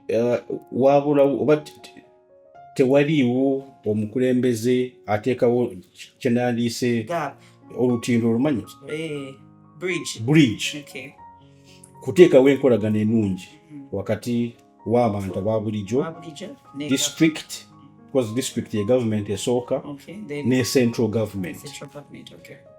Eh, wabula oba tewaliiwo omukulembeze ateekawo kyenandiise olutindo olumanyi eh, bridge kuteekawo enkolagana enungi hmm. wakati w'abantu aba bulijjo district because district ye government esooka ne central government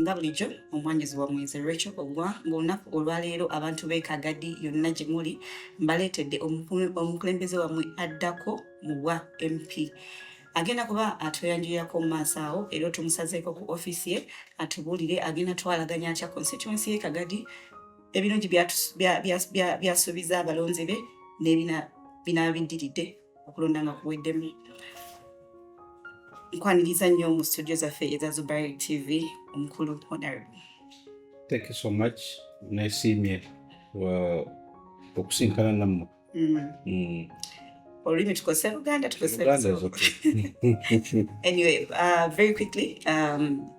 nga bulijjo omwanjuzi wa mwezi rachel ogwa ngaolunaku olwaleero abantu b'ekagadi yonna gye muli mbaleetedde omukulembeze wamwe addako mu bwa mp agenda kuba atweyanjulirako mu maaso awo era otumusazeeko ku ofiisi ye atubuulire agenda twalaganya atya constituency ye kagadi ebirungi byasuubiza abalonzi be nebina binabiddiridde okulonda nga kuweddemu nkwaniriza nnyo mu studio zaffe eza zubar tv omukulu honorable thank you so much nesiimye uh, okusinkana nammwe mm. mm. olulimi tukozesa luganda tukozesa anyway uh, very quickly um,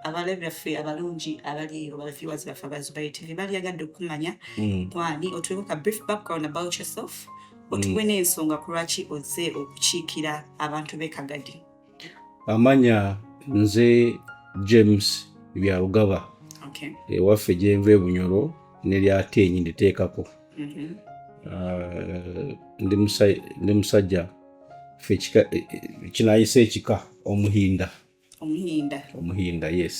abalo byaffe abalungi abali eyo baviewers baffe abazubayi tv baliyagadde okumanya hmm. kwani otuweko ka brief background about yourself hmm. otuwe n'ensonga ku lwaki oze okukiikira abantu b'ekagadi amanya nze james byarugaba ewaffe gyenva ebunyoro neryaate enyi nditeekako mm-hmm. ah, ndi musajja fe e, e, kinayisa ekika omuhinda omuhinda omuhinda yes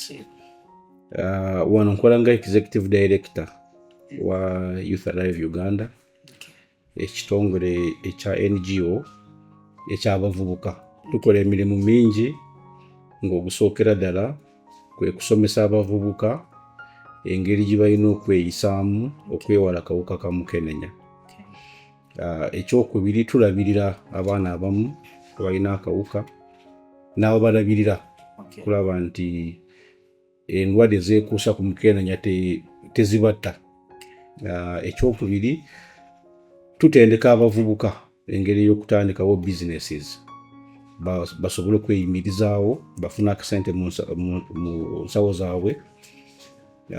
uh, wano nkola nga executive director wa youth alive uganda ekitongole ekya ngo ekyabavubuka tukola emirimu mingi ng'ogusookera ddala kwe kusomesa abavubuka engeri gye balina okweyisaamu okwewala kawuka ka mukenenya Ah, ekyokubiri tulabirira abaana abamu abalina akawuka n'ababalabirira kulaba nti endwadde zeekuusa ku mukenenya tezibatta ah, ekyokubiri tutendeka abavubuka engeri ey'okutandikawo businesses basobole okweyimirizaawo bafuna akasente mu nsawo zaabwe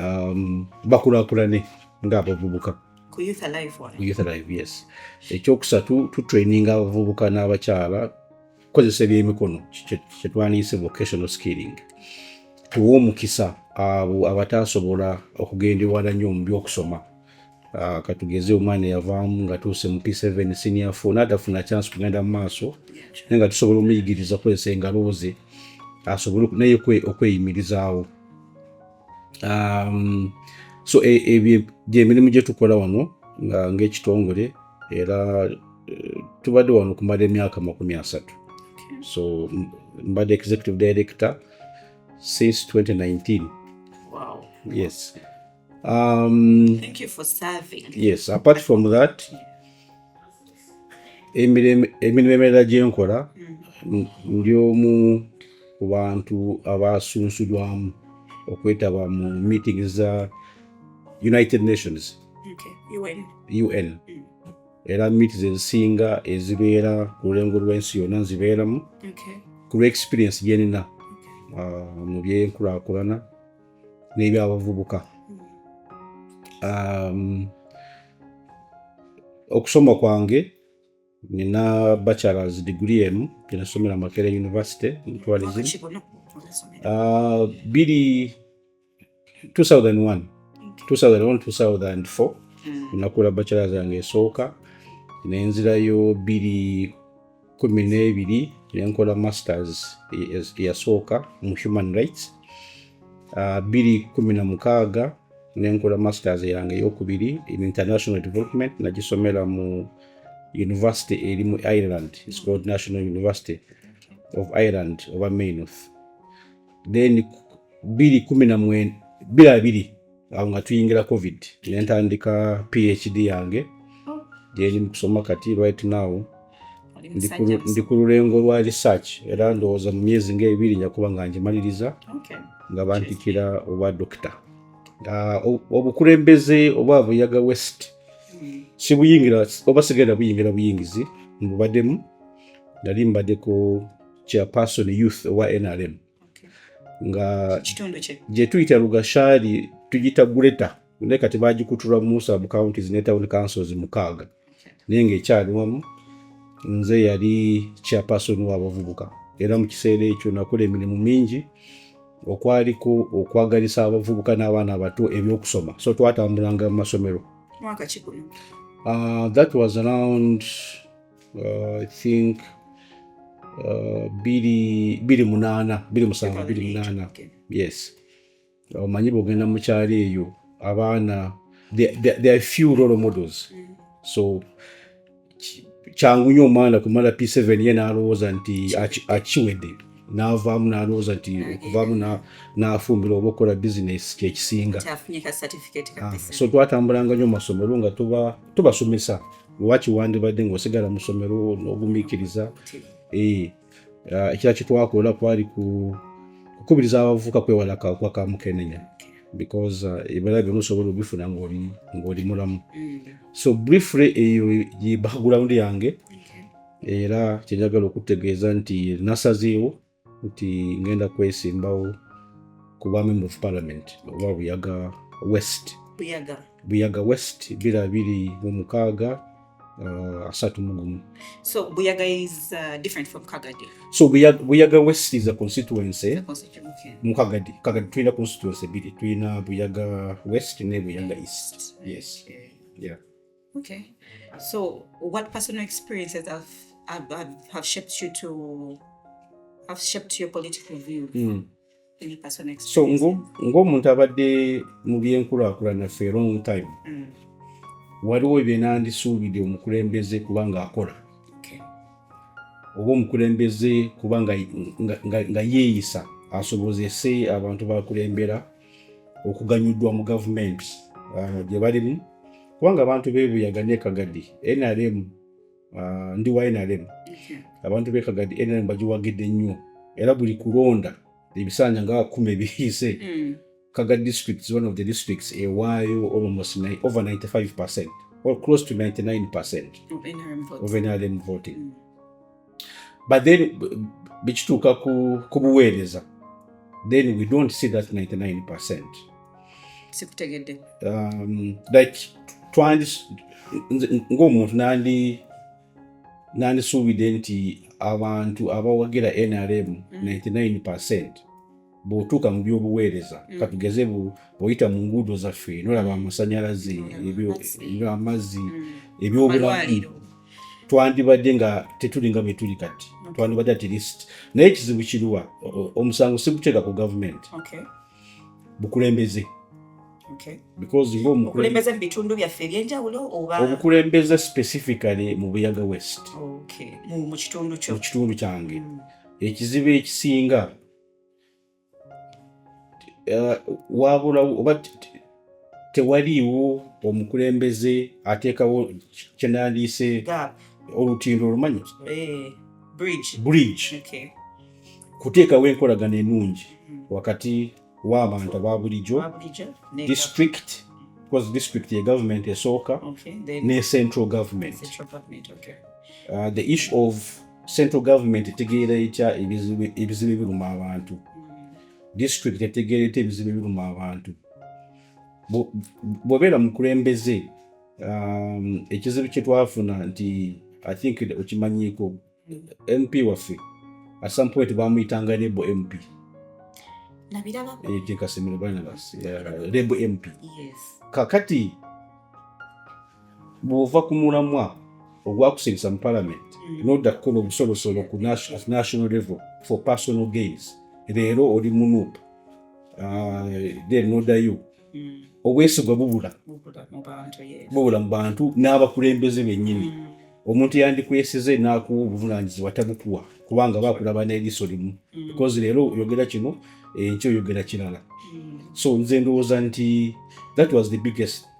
um, bakulakulane ng'abavubuka ku youth alive one. Ku youth alive yes ekyokusatu tutraininga abavubuka n'abakyala kukozesa ebyemikono kyetwaniyise vocational skilling tuwa omukisa abo abataasobola okugenda ewala nnyo mu byokusoma ah, katugeze omwana eyavaamu nga tuuse mu p7 senior fo natafuna chance kugenda mu maaso naye nga tusobola omuyigiriza kukozesa engalooze asobole naye okweyimirizaawo um, so e, ebyo gyemirimu gye tukola wano ng'ekitongole era eh, tubadde wano okumala emyaka makumi asatu so mbadde executive director since 2019 wow. yes um, Thank you for serving. yes apart from that emirimu emirala gye nkola mm. ndi omu ku bantu abasunsulwamu okwetaba mu meeting za united nations un era miiti zezisinga ezibeera ku lulengo lw'ensi yonna nzibeeramu ku lw'experience gyenina uh, mu byenkulakulana n'ebyabavubuka um, okusoma kwange nina bachelors degree emu gyenasomera makere university mu tourism uh, biri 2001 2001 2004 nakula bachelors yange esooka nenzirayo biri kumi n'ebiri ne nkola masters eyasooka mu human rights ah, bbiri kumi na mukaaga ne nkola masters yange eyokubiri in international development nagisomera mu university eri mu ireland its called national university of ireland oba mainoth then bbiri kumi na mwenda bbiri abiri awo nga tuyingira covid nentandika phd yange oh. gyeri mu kusoma kati right now ndi ku lulengo lwa research era ndowooza mu myezi ngaebiri njakuba nga ngimaliriza nga bantikira obwa dokita ah, obukulembeze obwa buyaga west hmm. sibuyingira oba sigenda buyingira buyingizi mbubademu nali mbadeko chairperson youth owa nrm nga gye tuyita lugashaali tugita gureta naye kati bagikutura musa mu counties ne town councils mukaaga naye ngaekyali wamu nze yali chairperson wabavubuka era mu kiseera ekyo nakola emirimu mingi okwaliko okwagalisa abavubuka n'abaana abato ebyokusoma so twatambulanga mu masomero uh, that was around uh, i think uh, biri biri munana biri musanvu biri munana yes omanyi uh, bwogenda mukyalo eyo abaana there are few role models mm. so kyangu nyo omwana kumala p7 ye nalowooza nti akiwedde navaamu nalowooza nti okuvaamu nafumbira oba okukola bizinesi kyekisinga ah, so twatambulanga nyo masomo olwo nga tubasomesa lwaki wandibadde ngaosigala musomero nogumikiriza eh, ah, ekira kitwakola kwali kukubiriza abavuka kwewala kakuba kamukenenya because ah, ebala byona osobola obifuna ngaoli mulamu mm. so briefly eyo ye background yange era kyenjagala okutegeeza nti nasazeewo nti ngenda kwesimbawo ku bwa member of parliament oba buyaga west buyaga buyaga west bira biri mu mukaaga uh, asatu mugumu so buyaga is uh, different from kagadi so buyaga, buyaga west is a constituency mu kagadi kagadi tulina constituency biri tulina buyaga west ne buyaga east yes yeah. Okay. So, what personal experiences have have, have, have shaped you to have shaped your political view? Mm. so ng'omuntu abadde mu byenkulaakulana fe long time mm. waliwo byenandisuubidde omukulembeze kubanga akola oba omukulembeze kuba nga yeeyisa asobozese abantu bakulembera okuganyuddwa mu gavumenti ah, gye balimu kubanga abantu bebuyaga ne kagadi nrm ah, ndi wa nrm abantu be kagadi nrm bagiwagidde nnyo era buli kulonda ebisanja nga kumi ebiyise hmm. kaga district is one of the districts ewaayo almost over 95 percent or close to 99 percent of nrm voting, of NRM voting. Mm. but then bikituuka ku, ku buweereza then we don't see that 99 percent sikutegedde um, like twandi ng'omuntu nandi nandisuubidde nti abantu abawagira nrm 99 mm. percent bwotuuka mu byobuweereza mm. katugeze bwoyita mu nguudo zaffe nolaba amasanyalaze amazzi mm. ebyobulamu twandibadde nga tetuli nga bwetuli kati twandibadde at least naye ekizibu kiriwa omusango siguteeka ku gavumenti bukulembeze obukulembeze specifically mu buyaga west mu kitundu kyange mm. ekizibu ekisinga eh, wabula oba tewaliiwo omukulembeze ateekawo kyenandiise olutindo olumanyi eh, bridge kuteekawo enkolagana enungi mm-hmm. wakati w'abantu aba bulijjo district because district ye government esooka ne central government uh, the issue of central government etegeera etya ebizibu ebiruma abantu district etegeera etya ebizibu ebiruma abantu bwobeera mukulembeze um, ekizibu kyetwafuna nti i think okimanyiiko mp waffe at some point bamuyitanga rebo mp nabirabako kasimiro barnabas rebo mp kakati bw'ova ku mulamwa ogwakusirisa mu palamenti mm. nodda kukola obusolosolo ku national level for personal gains leero oli munup ah, then nodayo mm. obwesigwa bubula bubula mu bantu n'abakulembeze bennyini mm. omuntu yandikwesize n'akuwa obuvunanyizibwa tabukuwa kubanga bakulaba n'eriiso limu because leero oyogera kino enkyo eh, oyogera kirala so nze ndowooza nti that was the biggest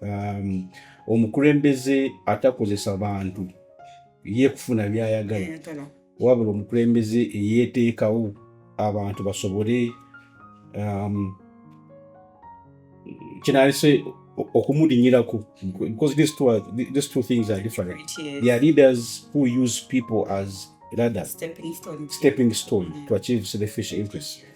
um, omukulembeze atakozesa bantu ye kufuna byayagala wabula omukulembeze eyeteekawo abantu basobole um, kinalese okumulinyirako because these two, are, these two things are different yes. they are leaders who use people as ladder stepping stone, stepping stone mm -hmm. to achieve selfish interests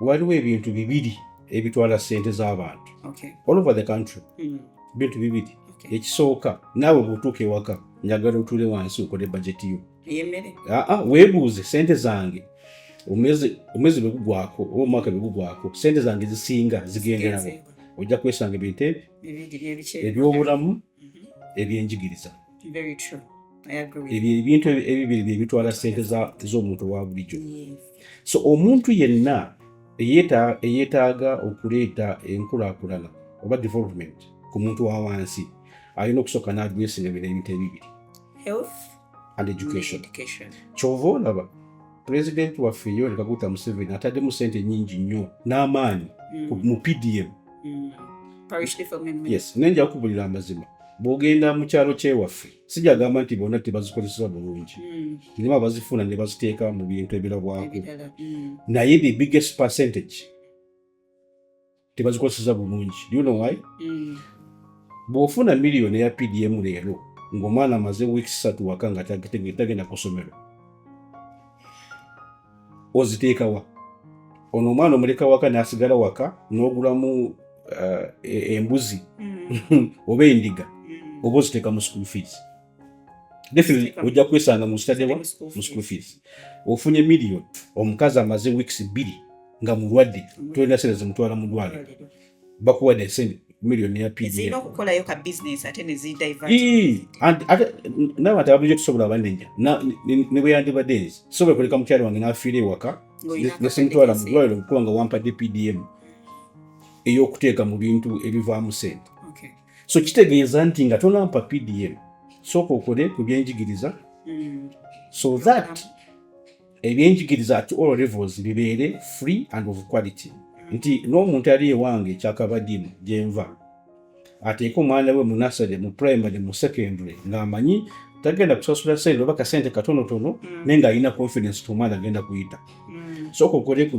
waliwo ebintu bibiri ebitwala sente z'abantu all over the country hmm. bintu bibiri ekisooka naawe bwotuuka ewaka njagala otuule wansi okole bajeti yo aa weebuuze sente zange omwezi bwegugwako oba omwaka bwegugwako sente zange zisinga zigenderawo ojja kwesanga ebintu ebyo ebyobulamu ebyenjigiriza ebyo ebintu ebibiri byebitwala sente z'omuntu wa bulijjo so omuntu yenna eyetaaga okuleeta enkulakulana oba development ku muntu wa wansi alina okusooka n'adwesinga bino ebintu ebibiri and education kyova olaba pulezidenti waffe yoweri kaguta museveni ataddemu sente nyingi nnyo n'amaanyi mm. mu pdm mm. yes naye nja kukubulira amazima bwogenda mu kyalo kyewaffe sijagamba nti bonna tebazikozesa bulungi mm. nimu abazifuna ne baziteeka mu bintu ebirabwako naye the biggest percentage tebazikozesa bulungi you know why mm. bw'ofuna miliyoni eya pdm leero ng'omwana amaze wiiki satu waka nga tagenda ku ssomero oziteekawa ono omwana omuleka waka n'asigala waka n'ogulamu uh, e, embuzi mm. oba endiga mm. oba oziteeka mu school fees definitely ojja kwesanga mu study wa mu school fees ofunye million omukazi amaze weeks bbiri nga mulwadde tolina sente zimutwala mu ddwaliro bakuwadde sente million ya pdf okukolayo ka business ate ne zi divert ee and ate nawe ate abuje kusobola abanenya na ne bwe yandi bade sobola kuleka mukyalo wange n'afiira ewaka ne simutwala mu ddwaliro okuba nga wampadde pdm ey'okuteeka mu bintu ebivaamu sente so kitegeeza nti nga tonampa pdm sooka okole ku byenjigiriza mm. so that ebyenjigiriza at all levels bibeere free and of quality nti n'omuntu ali ewange ekyakabadimu gyenva ateeke omwana we munasale mu primary mu secondary ng'amanyi tagenda kusasula sente oba kasente katonotono mm. naye ng'alina confidence ti omwana agenda kuyita mm. sooka okole ku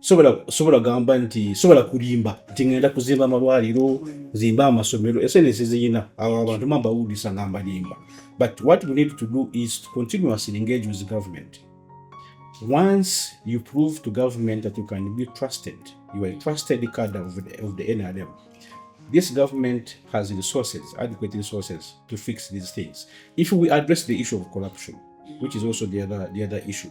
sobola gamba nti sobola kulimba nti ngenda kuzimba amalwaliro zimba amasomero esenesi ziyina awo abantu mambawulisa nga mbalimba but what we need to do is to continuously engage with government once you prove to government that you can be trusted you are a trusted card of the, of the nrm this government has resources adequate resources to fix these things if we address the issue of corruption which is also the other, the other issue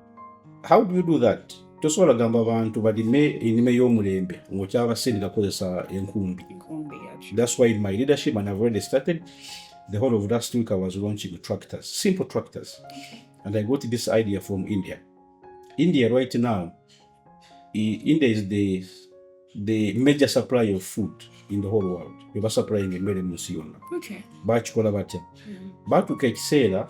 how do you do that tosobola gamba bantu balime enime y'omulembe ngaokyabasindika kukozesa enkumbi thats why in my leadership and i've already started the whole of last week i was launching tractors simple tractors and i got this idea from india india right now india is the, the major supply of food in the whole world bebasupplying emmere munsi yonna bakikola batya mm-hmm. batuuka ekiseera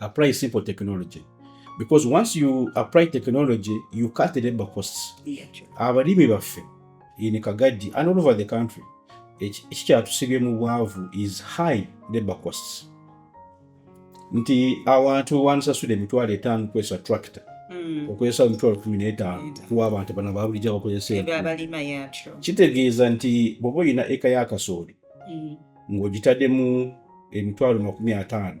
apply simple technology because once you apply technology you cut the labor costs abalimi baffe in kagadi and all over the country ekikyatusibye mu bwavu is high labor costs nti awantu wansasula emitwalo etaano kwesa tractor hmm. okozesa emitwalo kumi n'etaano kuwa abantu bana babulijjo abakozesa kitegeeza nti bwoba olina eka ya kasooli hmm. ng'ogitaddemu emitwalo makumi ataano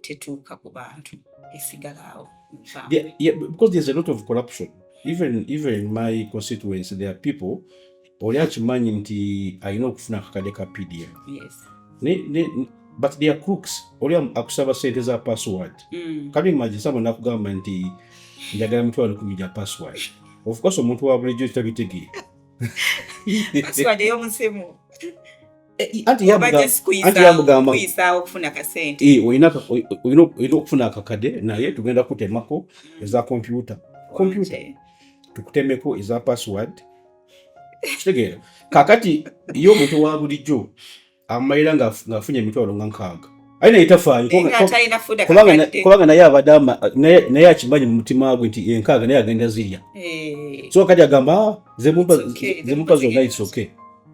tetuuka ku bantu esigalaawo even even in my constituency there are people oli akimanyi nti alina okufuna akakade ka pdf but their crooks oli akusaba sente za password mm. kale imagine sabo nakugamba nti njagala mitwalo kumi gya password of course omuntu wa bulijjo kitabitegeera password eyomusimu eh, anti yamugamba eh, olina okufuna akakade naye tugenda kutemako mm. eza kompyuta kompyuta tukutemeko eza password kitegeera kakati ye omuntu wa bulijjo amumalira ng'afunye emitwalo nga nkaaga aye naye tafaalikubanga naye abadde naye akimanyi mu mutima gwe nti enkaaga naye agenda zirya eh. so kati agamba ah, zemupa zonna isoke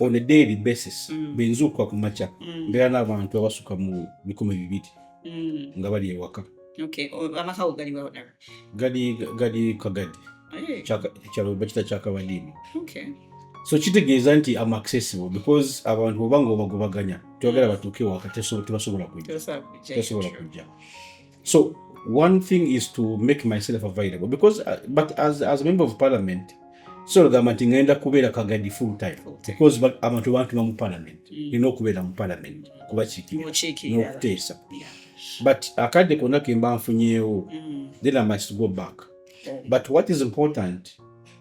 on a daily basis mm. benzuukuka ku makya mm. mbeera n'abantu abasuka mu bikumi bibiri mm. nga bali ewaka gali kagadi ekyalo bakita kyakabadiini so kitegeeza nti am accessible because abantu oba nga obagobaganya tebagala batuuke ewaka tebasobola kujja So one thing is to make myself available because uh, but as as a member of parliament so gamba nti ngenda kubeera kagadi full time because abantu bantuma mu parliament mm. nina okubeera mu parliament kubakiikiranokuteesa but akadde konna kemba nfunyeewo mm. then i must go back but what is important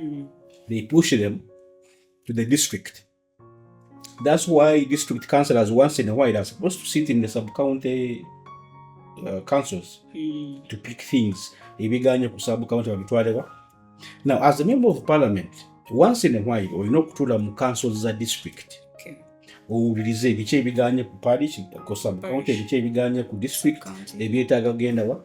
Mm. They push them to the district. That's why district councillors once in a while are supposed to sit in the sub-county uh, councils mm. to pick things. Ebiganye ku sub-county babitwalewa. Now, as a member of parliament, once in a while olina okutuula mu councils za district owulirize ebiki ebiganye ku parish ku sub-county ebiki ebiganye ku district ebyetaaga genda wa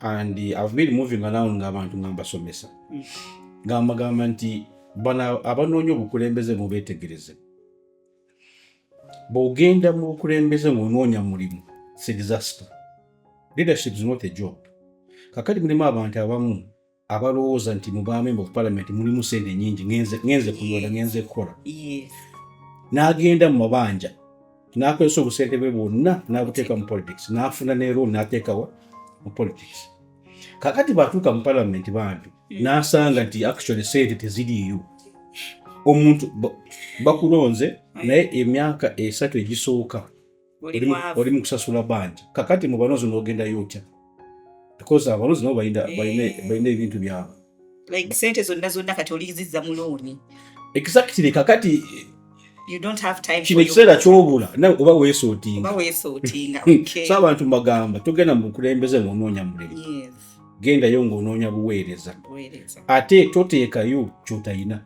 and I've been moving around ng'abantu nga mbasomesa mm. nga mbagamba nti bano abanoonya obukulembeze mubeetegereze bw'ogenda mu bukulembeze ng'onoonya mulimu it's a disaster leadership is not a job kakati mulimu abantu abamu abalowooza nti mubamemba ku palamenti mulimu sente nyingi ngenze kuyola ngenze kukola n'agenda mu mabanja n'akozesa obusente bwe bwonna n'abuteeka mu politics n'afuna ne roon n'ateekawa mu politics kakati bwatuuka mu palamenti bambi hmm. n'asanga nti actually sente teziriiyo omuntu bakulonze hmm. naye emyaka esatu egisooka oli mu kusasula banja kakati mu banozi n'ogendayo otya because abalozi nabo balina eh. ebintu byabwe like sente zonna zonna kati oliziza mu looni exactly kakati kino ekiseera kyobula nawe oba weesootinga hmm. so abantu mbagamba togenda mu bukulembeze ngaonoonya mulimu gendayo ngaonoonya buweereza ate toteekayo kyotalina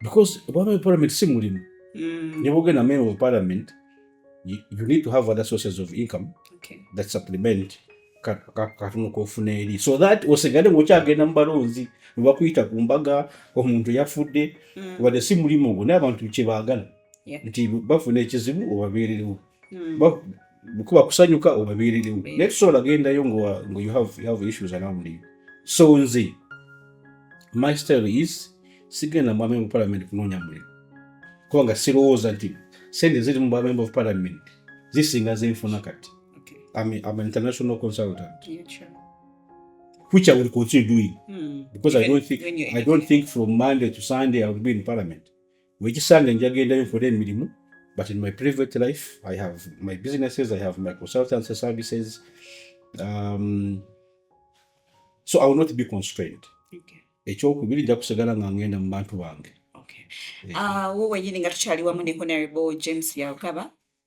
because obama parliament si mulimu mm. ne bogenda meme mu parliament you, you need to have other sources of income okay. that supplement katono kofuna eri so that osigale ngaokyagenda mu balonzi nebakuyita ku mbaga omuntu yafudde mm. wadde si mulimu ogwo naye abantu kyebaagala nti bafuna ekizibu obabeererewo mm. kuba kusanyuka obabeererewo mm. naye tusobola gendayo nga you have, you have issues around you so nze my style is sigenda mu amemba parliament kunoonya mulimu kubanga sirowooza nti sente ziri mu bamemba of parliament zisinga zenfuna kati okay. I'm, a, I'm an international consultant yeah, sure. which I will continue doing mm. because Even I don't think I don't think from Monday to Sunday I will be in parliament Wekisange njagendayo nkole emirimu but in my private life I have my businesses, I have my consultancy services um, so I will not be constrained. Okay. Ekyokubiri nja kusigala nga ngenda mu bantu bange. Okay. Yeah. Uh, wo wenyini nga tukyali wamu ne Honorable James Byarugaba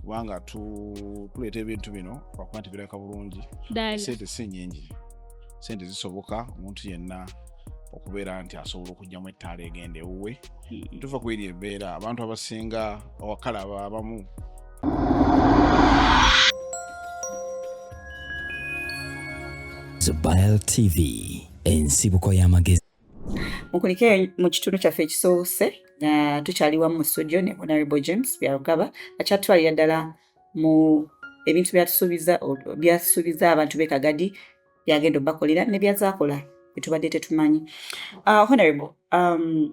kubanga tuleeta ebintu bino lwakuba nti birabika bulungi sente si nyingi sente zisoboka omuntu yenna okubeera nti asobola okugyamu ettaala egenda ewuwe hmm. tuva ku eri embeera abantu abasinga awakala abamu Zubair TV ensibuko y'amagezi mukulike mu kitundu kyaffe ekisoose nga tukyali wamu mu studio ne honorable james byarugaba akyatutwalira ddala mu ebintu byatusuubiza abantu be kagadi byagenda obakolera ne byazakola byetubadde tetumanyi uh, honorable um,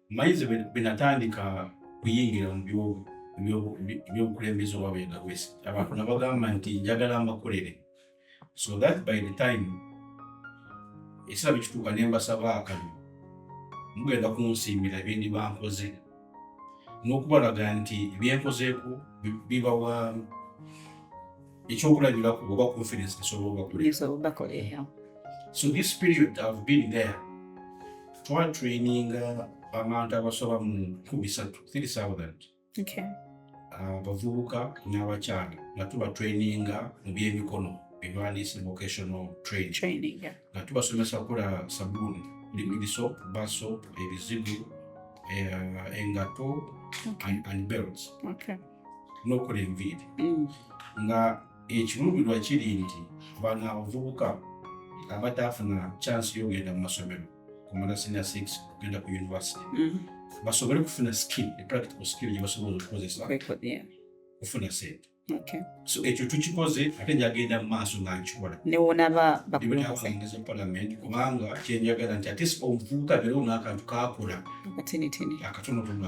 Maize bwenatandika kuyingira mu byobukulembeze oba bendawesi abantu nabagamba nti njagala mbakolere so that by the time ekiseera bwekituuka ne mbasaba akano mugenda kunsiimira byendi bankoze n'okubalaga nti byenkozeeko bibawa ekyokulabirako oba confidence esobola obakola so this period i've been there twatraininga abantu abasoba mu nkumi satu 3000 abavubuka n'abakyala nga tuba traininga mu byemikono ebywandiise vocational training nga tubasomesa kukola sabuuni liquid soap bar soap ebizibu eh, engato and belts n'okola enviiri mm. nga ekiruubirwa kiri nti bano abavubuka abataafuna kyansi y'okugenda mu masomero kumala senior six okugenda ku university mm-hmm. basobole kufuna skill epractical skill gyebasobola okukozesa kufuna sente so ekyo tukikoze ate njagenda mu maaso nga nkikola newonababakulembeze parliament kubanga kyenjagala nti ate omuvubuka beerewo n'akantu kakola akatonotono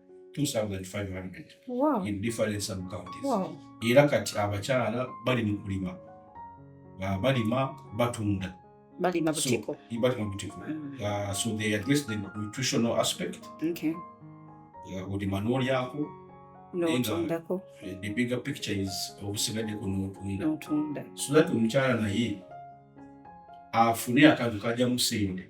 era kati abakyala bali mu kulima balima batunda balima butiko mm. so they address the nutritional aspect okay. olima n'olyako n'otundako the bigger picture is obusigaddeko n'otunda so that omukyala naye afune akantu kajjamu sente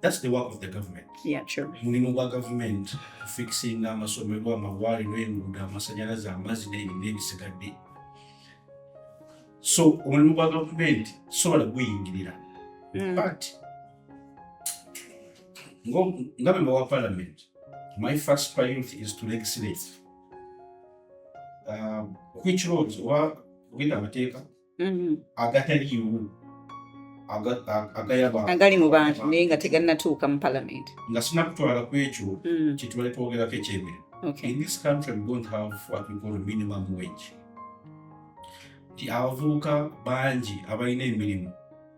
That's the work of the government. Yeah, true. Mulimu gwa government fixing amasomero, amawaliro, enguudo, amasanyalaze, amazzi n'ebintu ebisigadde. So omulimu gwa government sobola guyingirira. Mm. But nga memba wa parliament, my first priority is to legislate. Um, which roads oba ogenda amateeka mm-hmm. agataliimu agali mu bantu naye nga teganatuuka mu palamenti nga sinakutwala ku ekyo mm. kyetubali twogerako ekyemere in this country we don't have what we call minimum wage nti abavubuka bangi abalina emirimu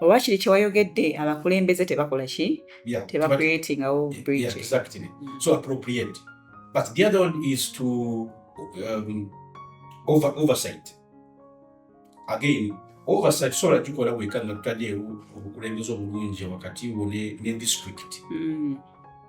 oba kiri kyewayogedde abakulembeze tebakola ki tebacreatingawo again oversight sola gikola weka nga tutadeewo obukulembeze obulungi wakati wo ne district mm.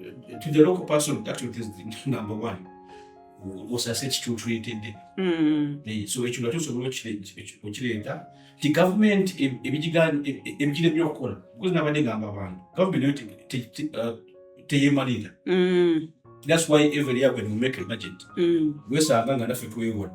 eh, to the local person that is the number one osase ekitutuletedde hmm. eh, so ekyo nga tusobola okireeta nti gavumenti ebigira ebyo okukola because nabadde gamba abantu gavumenti uh, teyemalira hmm. that's why every year when we make a budget hmm. wesanga nga naffe twewola